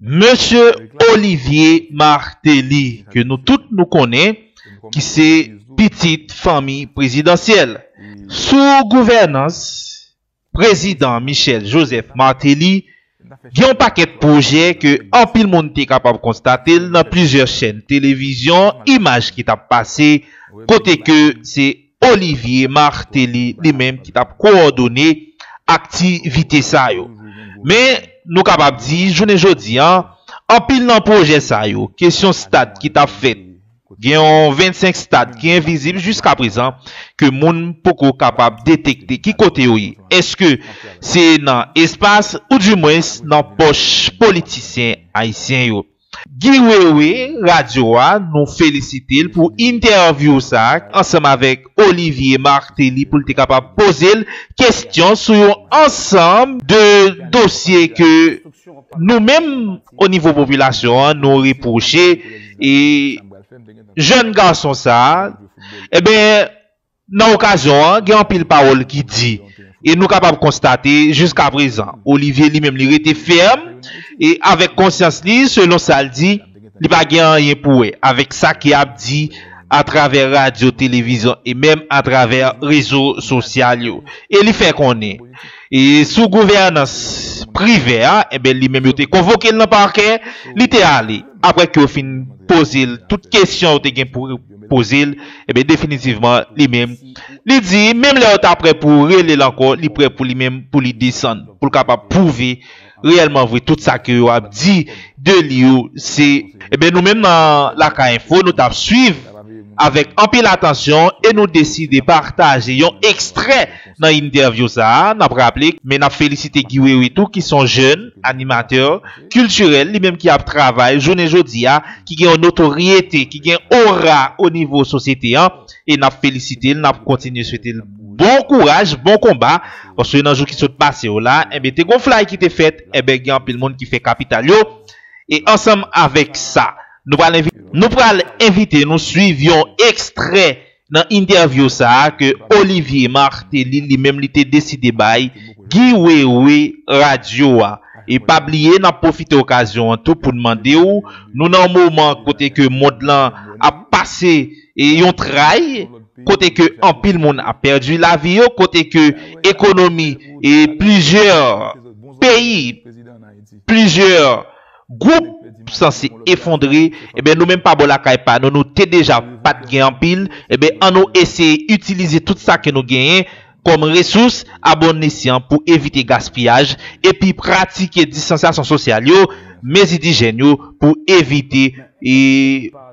Mesye Olivier Martelly ke nou tout nou konnen ki se pitit fanmi prezidansyèl. Sou gouvènans prezidan Michel Joseph Martelly, gen yon pakèt pwojè ke anpil moun te kapab konstate l nan plizyè chèn televizyon, imaj ki t ap pase kote ke se Olivier Martelly li menm ki t ap kowòdone akti vite sa yo. Men nou kapab di jounen jodi a anpil nan pwojè sa yo kesyon stad ki t ap fèt gen yon 25 stad ki envizib jiska prezan ke moun poko kapab detekte ki kote yo ye èske se nan espas ou di mwens nan pòch politisyen ayisyen yo. Guy Wewe radio a nou felisite l pou intèvyou sa ansanm avèk Olivier Martelly pou l te kapab poze l kesyon sou yon ansanm de dosye ke nou menm o nivo popilasyon an nou repwoche jèn gason sa. Enben Nan okazyon an, gen anpil pawòl ki di e nou kapab konstate jiskaprezan, Olivier li menm li rete fèm e avèk konsyans li selon sa l di, li pa gen anyen pou wè avèk sa ki ap di atravè radyo, televizyon e menm atravè rezo sosyal yo e li fè konnen sou gouvènans Privè a, enben li menm yo te konvoke l nan pakè, li te ale aprè ke yo fin poze l tout kesyon yo te gen pou. poze l, enben definitivman li menm li di menm lè yo ta prè pou rele l ankò li prè pou li menm pou li desann pou l kapab pwouve reyèlman vre tout sa ke yo ap di de li yo se Enben nou menm nan Lakay Enfo nou t ap swiv avèk anpil atansyon e nou deside pataje yon ekstrè Nan intervyou sa a, n ap raple men n ap felisite Guy Wewe tou ki son jèn animatè kiltirèl li menm ki ap travay jounen jodi a ki gen yon notoryete ki gen ora o nivo sosyete an e n ap felisite l n ap kontinye swete l bon kouraj bon konba paske nan jou ki sot pase yo la enben te gon flay ki te fèt enben gen anpil moun ki fè kapital yo e ansanm avèk sa nou pral envite nou pral envite nou swiv yon ekstrè Nan entèvyou sa a ke Olivier Martelly li menm li te deside bay Guy Wewe radyo a. E pa bliye nap pwofite okazyon an tou poun mande w, nou nan yon moman kote ke mond lan ap pase yon tray, kote ke anpil moun ap pèdi lavi yo, kote ke ekonomi plizyè peyi, plizyè. Group San se efondre ebyen nou menm pa bò lakay pa nou nou te deja pat gen anpil ebyen an nou eseye itilize tout sa ke nou genyen kòm resous a bon esyan pou evite gaspiyaj epi pratike distansyasyon sosyal yo mezi dijyèn yo pou evite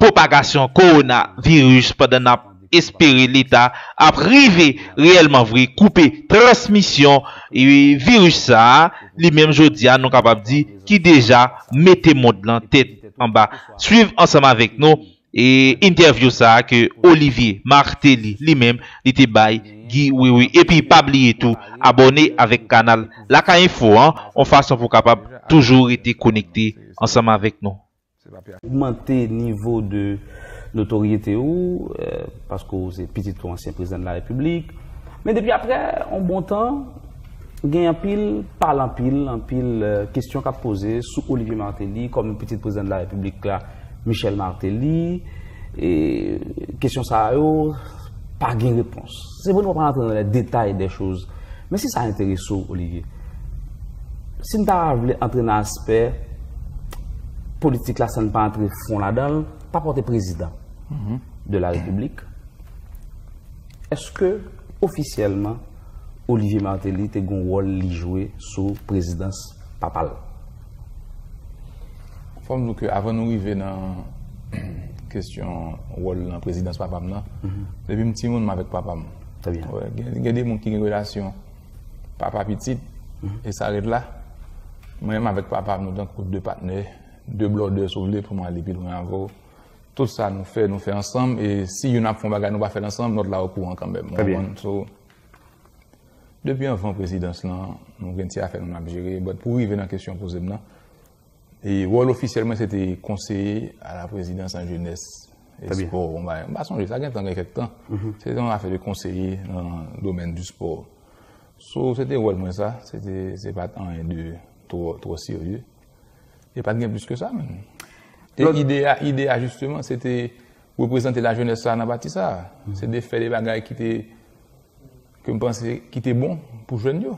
pwopagasyon kowona viris pandan nap Espere leta ap rive reyèlman vre koupe transmisyon viris sa a, li menm jodi a nou kapab di ki deja mete mond lan tèt anba. Swiv ansanm avèk nou entèvyou sa a ke Olivier Martelly li menm li te bay Guy Wewe. Epi pa bliye tou abòne avèk kanal Lakay Info an yon fason pou kapab toujou rete konekte ansanm avèk nou. ogmante nivo de notoryete ou paske ou se pitit yon ansyen prezidan de la repiblik men depi aprè yon bon tan gen anpil pale anpil anpil kestyon kap poze sou Olivier Martelly kòm pitit prezidan de la repiblik la Michel Martelly e kestyon sa yo pa gen repons. Se vre nou pa pral antre nan lè detay dè choz, men si sa enterese w, Olivier, si n ta vle antre nan aspè politik la san n pa antre fon ladan l, pa pòte prezidan de la repiblik, eske ofisyèlman Olivier Martelly te gon wòl li jwe sou prezidans papa l? Fòm di w ke avan nou rive nan kesyon wòl nan prezidans papa m nan, depi m timoun m avèk papa m. Gen de moun ki gen relasyon papa pitit e sa rèt la. Mwen menm avèk papa m nou tankou de patnè, de blòdè si w vle pou m ale pi lwen avè w. Tout sa nou fè, nou fè ansanm e si youn ap fè yon bagay nou pa fè l ansanm, lòt la okouran kanmenm. Depi anvan prezidans lan, nou gen ti afè nou n ap jere. Pou rive nan kesyon w poze m nan, Wòl ofisyèl mwen se te konseye a la prezidans an jenès e spò. M pa sonje, sa gen tan, gen kèk tan. Se te yon afè de konseye nan domèn di spò. So, se te wòl mwen sa. Se te, se pa t anyen de twò serye. E pa t gen plis ke sa menm. E ide a, ide a jisteman, se te reprezante la jenès sa nan pati sa. Se te fè de bagay ki te, ke m panse, ki te bon pou jèn yo.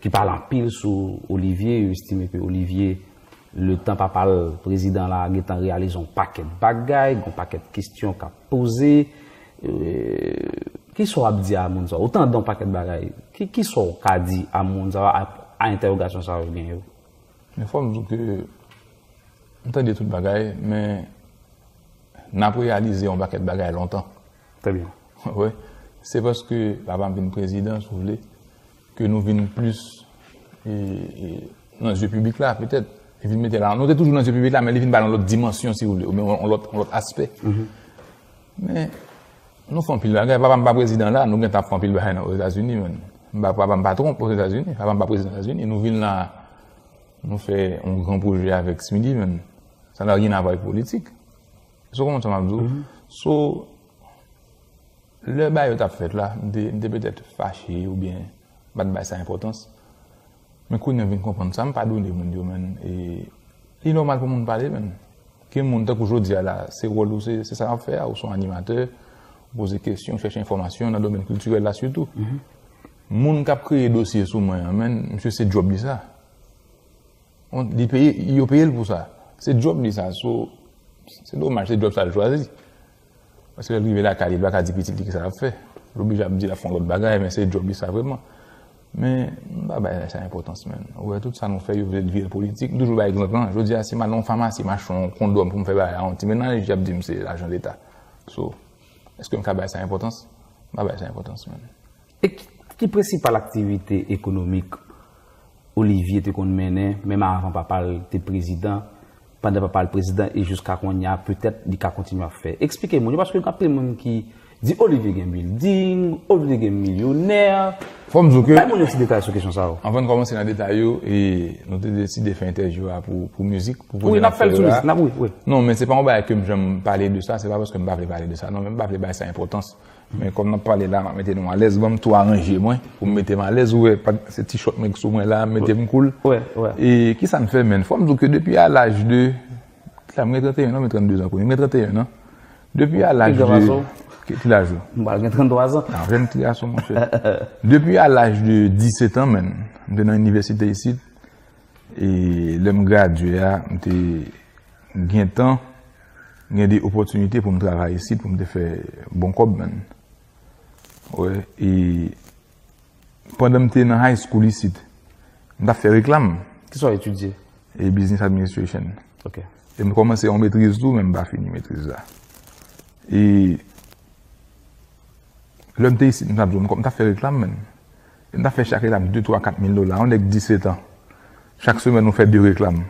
ki pale anpil sou Olivier, yo estime ke Olivier le tan papa l prezidan la gentan reyalize yon pakèt bagay, gon pakèt kestyon k ap poze, ki sa w ap di a moun sa yo? Ou tande yon pakèt bagay, ki sa w ka di a moun sa yo a entèwogasyon sa yo gen yo? Men fò m di w ke m tande tout bagay men n ap reyalize yon pakèt bagay lontan. Trè byen. Wè, se paske papa m vin prezidan, si w vle, ke nou vin plis nan zye piblik la, petèt. Li vin mete la. Nou te toujou nan zye piblik la, men li vin ba l yon lòt dimansyon, si w vle, oubyen yon lòt aspè. Men, nou fè anpil bagay. Papa m pa prezidan la, nou gentan ap fè anpil bagay nan Ozetazini, men. Papa m pa Trump Ozetazini. Papa m pa prezidan Ozetazini. Nou vin la, nou fè yon gran pwojè avèk Smithee, men. Sa nan ryen avè avèk politik. Èske ou konprann sa m ap di ou? So, lè bagay yo t ap fèt la, m te, m te petèt fache oubyen m pa t bay sa enpòtans. Men kounye a m vin konprann sa, m padone moun yo man. E li nòmal pou moun pale man. Gen moun, tankou jodi a la, se wòl ou, se, se sa w ap fè a, ou se yon animatè, ou poze kesyon, ou chèche enfòmasyon nan domèn kiltirèl la sitou. Moun k ap kreye dosye sou mwen an man, misye se djòb li sa. Li peye, yo peye l pou sa. Se djòb li sa. So, se domaj, se djòb sa l chwazi. Paske lè l rive lakay li, l pa ka di pitit li ki sa l ap fè. L oblije ap di l ap fè yon lòt bagay, men se djòb li sa vrèman. Men, m pa bay sa enpòtans menm. Ou wè, tout sa nou fè, yo vle l vire l politik. M toujou bay egzanp lan. Jodi a, si m al nan yon famasi, m achte yon kondòm pou m fè bagay a yon ti mennaj, y ap di m se lajan Leta. So, èske m ka bay sa enpòtans? M pa bay sa enpòtans menm. E ki prensipal aktivite ekonomik Olivier te konn mennen menm avan papa l te prezidan, pandan papa l prezidan e jiska konnya petèt li ka kontinye ap fè? Eksplike moun yo paske gen anpil moun ki di Olivier gen bilding, Olivier gen milyonè. Fò m di w ke. Bay moun yon ti detay sou kesyon sa yo. Anvan n kòmanse nan detay yo, nou te deside fè entèvyou a pou mizik, pou koze n ap fè yo la. Wi, n ap fè l sou mizik. Non, men se pa yon bagay ke m janm pale de sa, se pa paske m pa vle pale de sa non, men m pa vle bay sa enpòtans. Men kòm nap pale la map mete nou alèz banm tou aranje mwen poum metem alèz ou wè se ti chòt mwen ki sou mwen la m metem koul e kisam fè menn fòm diw ke depi a laj de kilaj mwen gen 31 an ou gen 32 an kounye mwen gen 31 an depi a laj de kilaj ou m pral gen 33 an nan jèn ti gason monchè depi a laj de 17 an menn m te nan inivèsite isit e lèm gradye a m te gentan. M gen de opòtinite pou m travay isit pou m te fè bon kòb menn. Wè e pandan m te nan high school isit m tap fè reklam. Ki sa w etidye? E business administration. Ok. E m kòmanse yon metriz tou men m pa fini metriz la. E lè m te isit m tap di w m tap fè reklam menn. E m tap fè chak etap 2, 3, 4 mil dola. Yon nèg 17 an. Chak semèn ou fè 2 reklam.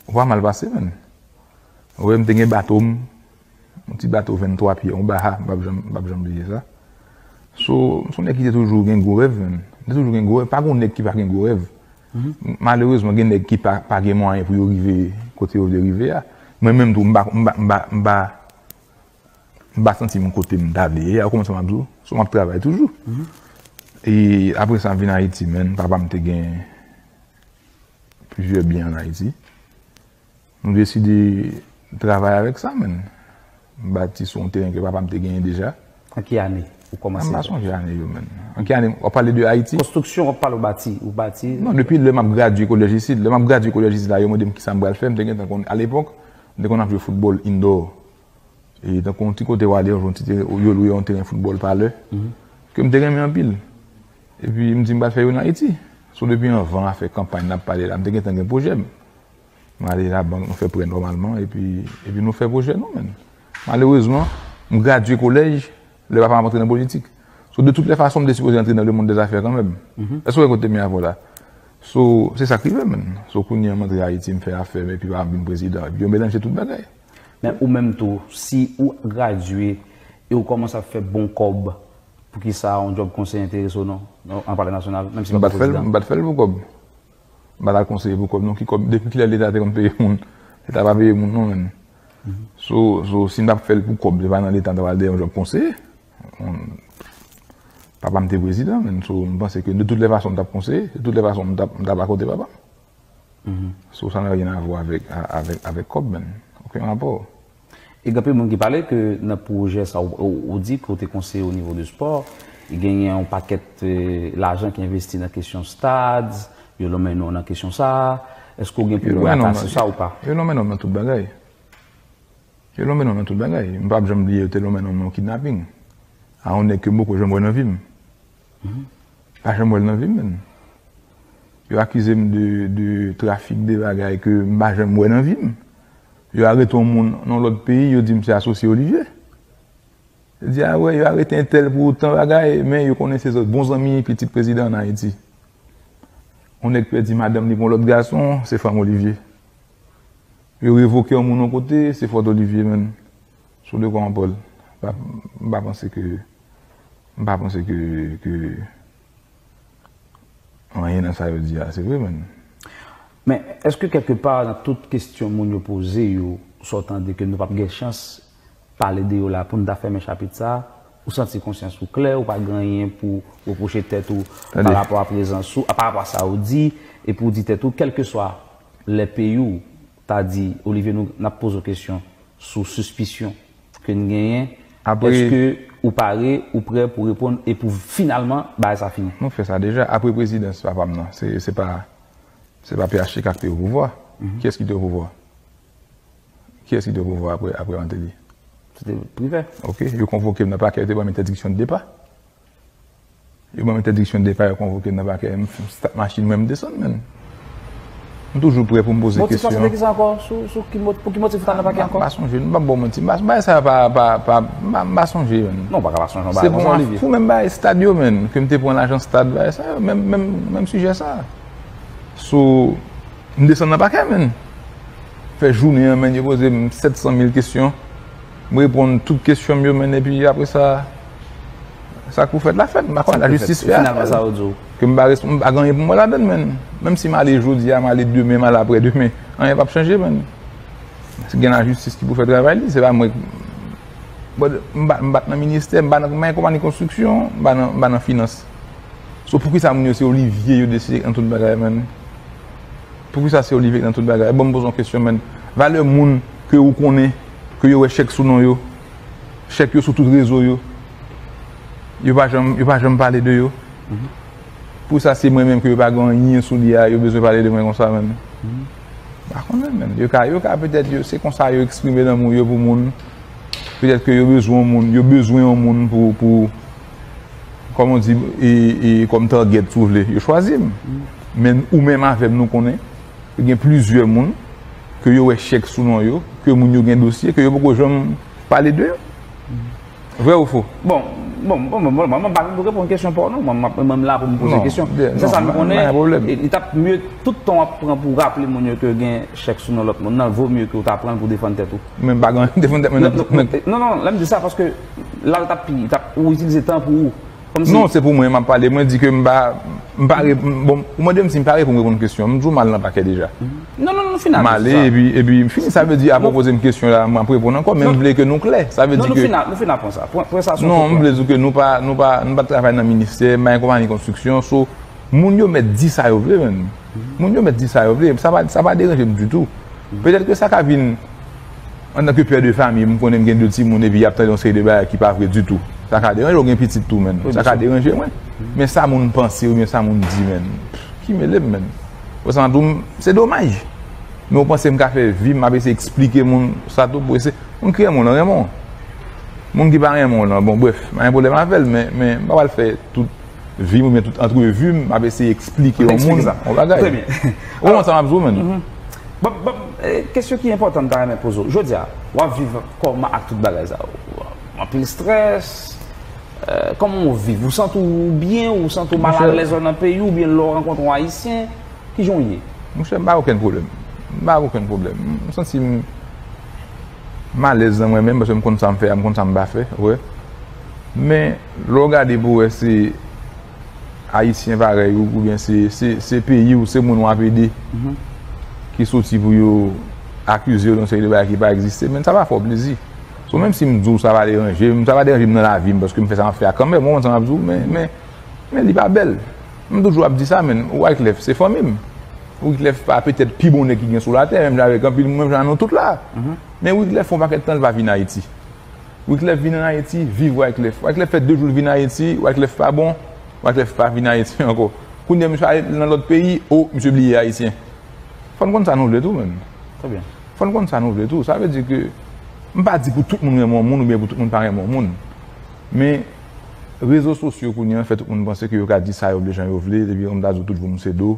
Ou pa mal pase menn. Wè m te gen bato m, yon ti bato 23 pye, yon Baha, m pap janm, m pap janm bliye sa. So, m son nèg ki te toujou gen gwo rèv menm. M te toujou gen gwo rèv, pa gon nèg ki pa gen gwo rèv. Malerezman gen nèg ki pa gen mwayen pou yo rive kote yo vle rive a. Mwen menm tou m pa, m pa, m pa, m pa, m pa santi m kote m ta vle ye a, ou konprann sa m ap di w? So m ap travay toujou. E apre sa m vin Ayiti menn, papa m te gen plizyè byen an Ayiti. Nou deside travay avèk sa menn. M bati sou yon teren ke papa m te genyen deja. An ki ane ou kòmanse? M pa sonje ane yo menn. An ki ane? W ap pale de Ayiti? Konstriksyon w ap pale ou bati? Ou bati? Non, depi lè m ap gradye kolèj isit. Lè m ap gradye kolèj isit la, yo mande m kisa m pral fè. M te gentan konn. A lepòk, m te konn ap jwe foutbòl indò. E tankou yon ti kote w ale, yon ti teren, yo lwe yon teren foutbòl pa lè. Ke m te renmen anpil. Epi m di m pral fè youn Ayiti. So depi anvan afè kanpay n ap pale la, m te gentan gen pwojè m. M ale labank, m fè prè nòmalman epi epi nou fè pwojè nou menn. Malerezman, m gradye kolèj lè papa m ap antre nan politik. So de tout lè fason m te sipoze antre nan lemonn dèzafè kanmenm. Èske w wè kote te mennen avè w la? So, se sa k rive menn. So kounye a m antre Ayiti, m fè afè m epi papa m vin prezidan. Epi yo melanje tout bagay. Men ou menm tou, si ou gradye e ou kòmanse ap fè bon kòb, poukisa yon djòb konseye enterese w non? An pale nasyonal, menm si w pa prezidan. M pa t fè l pou kòb. M pa ta konseye pou kòb non ki kòb depi kilè leta te konn peye moun leta pa peye moun non menn so so si n tap fèl pou kòb se pa nan leta n tap al dèyè yon jòb konseye papa m te prezidan menn so m panse ke de tout lè fason m tap konseye de tout lè fason m tap akote papa m so sa n aryen avwa avèk avèk avèk kòb menn okenn rapò. E gen anpil moun ki pale ke nan pwojè sa ou di ke ou te konseye o nivo de spò, genyen yon pakèt lajan ki envesti nan kesyon stad, yo lonmen non nan kesyon sa a, eske ou gen pou wè ata sou sa ou pa? Yo lonmen non nan tout bagay. Yo lonmen non nan tout bagay. M pap janm bliye yo te lonmen non nan yon kidnaping a yon nèg ke m poko janm wè nan vi m. Pa janm wèl nan vim menn. Yo akizem de trafik de bagay ke m pa janm wè nan vim. Yo arete yon moun nan yon lòt peyi yo dim se asosye Olivier. Yo di a wè yo arete entèl pou tan bagay men yo konnen se bon zanmi pitit prezidan an Ayiti. Yon nèg pèdi madanm li pou yon lòt gason se fanm Olivier. Yo revoke yon moun yon kote se fòt Olivier menn. Sou de kò an Paul, m pa panse ke, m pa panse ke, ke anyen nan sa yo di a se vre menm. Men, èske kèlke pa nan tout kestyon moun yo poze yo, sa w tande ke nou pap gen chans pale de yo la pou n ta fèmen chapit sa, ou santi konsyans ou klè, ou pa gen anyen pou repwoche tèt ou pa rapò a prezans ou, pa rapò a sa ou di, epi ou di tèt ou kèlkeswa lè peyi w, ta di Olivier nou nap poze w kesyon sou sispisyon ke n genyen eske ou pare ou prè pou reponn e pou finalman bagay sa fini. Nou fè sa deja apre prezidans papa m nan se pa se pa phtk k te opouvwa kiyès ki te opouvwa kiyès ki te opouvwa apre Martelly se te privè ok yo konvoke m nan pakè yo te ban m entèdiksyon de depa Yo banm entèdiksyon depa yo konvokem nan pakè m start machin mwen m desann menn. M toujou prè poum poze kesyon. Motif la se te kisa ankò sou ki pou ki motif ou t al nan pakè ankò? M pa sonje m pap baw manti bagay sa pa pa m pa sonje menn. Non ou paka pa sonje yon bagay konsa Olivier. Se pou menm bagay stad yo menn ke m te pran lajan stad bagay sa yo menm menm menm sijè sa. Sou m desann nan pakè menn. Fè jounen an menn yo pozem 700 mil kesyon. M reponn tout kesyon m yo men epi apre sa sa k pou fèt la fèt. M pa konnen lajistis fè afè l. Ke m pa respon m pa gen anyen pou m wè ladan l menn. Menm si m ale jodi a m ale demen m ale apre demen anyen p ap chanje menn. Si gen lajistis ki pou fè travay li se pa mwen m pa m pa t nan ministè m pa nan m konpani konstriksyon m pa nan finans. So poukisa moun yo se olivye yo deside an tout bagay menn. Poukisa se olive k nan tout bagay? Bon m poze yon kesyon menn. Valè moun ke ou konnen, ke yo wè chèk sou non yo, chèk yo sou tout rezo yo, yo pa janm, yo pa janm pale de yo. Poukisa se mwen menm ke yo pa gen anyen sou li a, yo bezwen pale de mwen konsa menn? M pa konnen menn. Yo ka, yo ka petèt yo, se konsa yo eksprime lanmou yo pou moun. Petèt ke yo bezwen yon moun, yo bezwen yon moun pou, pou. Kòm on di, e kòm target si w vle, yo chwazi m. Men ou menm avè m nou konnen ke gen plizyè moun ke yo wè chèk sou non yo, ke moun yo gen dosye, ke yo poko janm pale de yo. Vrè ou fo? Bon, bon, bon, bon, bon, mwen pa vin pou reponn kesyon pa w non. Mwen ap, mwen la pou m poze kesyon. Non, byen, non, pa gen pwoblèm. Sèl sa m konnen, li tap mye tout tan w ap pran pou raple moun yo ke gen chèk sou non lòt moun nan, vo mye ke w ta pran l pou w defann tèt ou. Mwen pa gen anyen pou m defann tèt mwen nan. Non, non, lè m di sa paske. La ou tap pi, ou tap, ou itilize tan pou ou. Kòm si. Non, se pou mwen map pale. Mwen di ke m pa, m pa re, bon, ou mande m si m pare pou m reponn kesyon. M toujou mal nan pakè deja. Non, non, non, fin avèk sa. M ale, epi, epi m fini. Sa vle di, avan w poze m kesyon la, map reponn ankò. Men m vle ke nou klè. Sa vle di ke. Non, nou fin, nou fin aprann sa. Pwen, pwen sa sou. Non, m vle di ke nou pa, nou pa, nou pa travay nan ministè, m pa gen konpayi konstriksyon. So, moun yo mèt di sa yo vle menm. Moun yo mèt di sa yo vle. Sa pa, sa pa deranje m ditou. Petèt ke sa ka vin. Antanke pè de famiy m konnen m gen 2 timoun epi y ap tande yon seri de bagay ki pa vre ditou. Sa ka deranje w, ou gen pitit tou menn. Sa ka deranje mwen. Men sa moun panse oubyen sa moun di menn. Ki mele m menn. Ou sa m ap di w, se domaj. Men ou panse m ka fè vi m m ap eseye eksplike moun sa tou pou eseye. Moun ki renmen w lan renmen w. Moun ki pa renmen w lan bon brèf m pa gen pwoblèm avè l men m pa pral fè tout. Vim oubyen tout antrevi m ap eseye eksplike yon moun yon bagay. Ou konprann sa m ap di w menn? Banm banm kesyon ki enpòtan m ta renmen poze w. Jodi a, w ap viv kòman ak tout bagay sa yo? Anpil strès? Kòman w viv? Ou santi w byen? Ou santi w mal alèz lò nan peyi w oubyen lè w rankontre yon Ayisyen? Kijan w ye? Monchè m pa gen okenn pwoblèm. M pa gen okenn pwoblèm. M santi m. M alèz nan mwen menm paske m konn sa m fè a, m konn sa m pa fè, wè. Men, lè w gade pou w wè se Ayisyen parèy ou oubyen se peyi w, se moun w ap ede ki soti pou yo akize w de yon seri de bagay ki pa egziste menn, sa va fè w plezi. So menm si m di w sa va deranje m, sa va deranje m nan lavi m paske m fè sa m ap fè a kanmèm, ou konprann sa m ap di w men, men li pa bèl. M toujou ap di sa men, Wyclef se fanmi m. Wyclef pa petèt pi bon nèg ki gen sou latè, menm jan avèk anpil moun, menm jan a nou tout la. Men Wyclef fè yon pakèt tan li pa vin Ayiti. Wyclef vin an Ayiti, viv Wyclef. Wyclef fè 2 jou li vin Ayiti, Wyclef pa bon, Wyclef pa vin Ayiti ankò. Kounye a misye ale nan lòt peyi, o, misye bliye Ayisyen. Fò n konn sa nou vle tou menm. Fò n konn sa nou vle tou. Sa vle di ke, m pa di pou tout moun renmen yon moun oubyen pou tout moun pa renmen yon moun. Men, Rezo sosyo kounye an fè tout moun panse ke yo ka di sa yo vle jan yo vle depi yon m ta di w tout voum se do.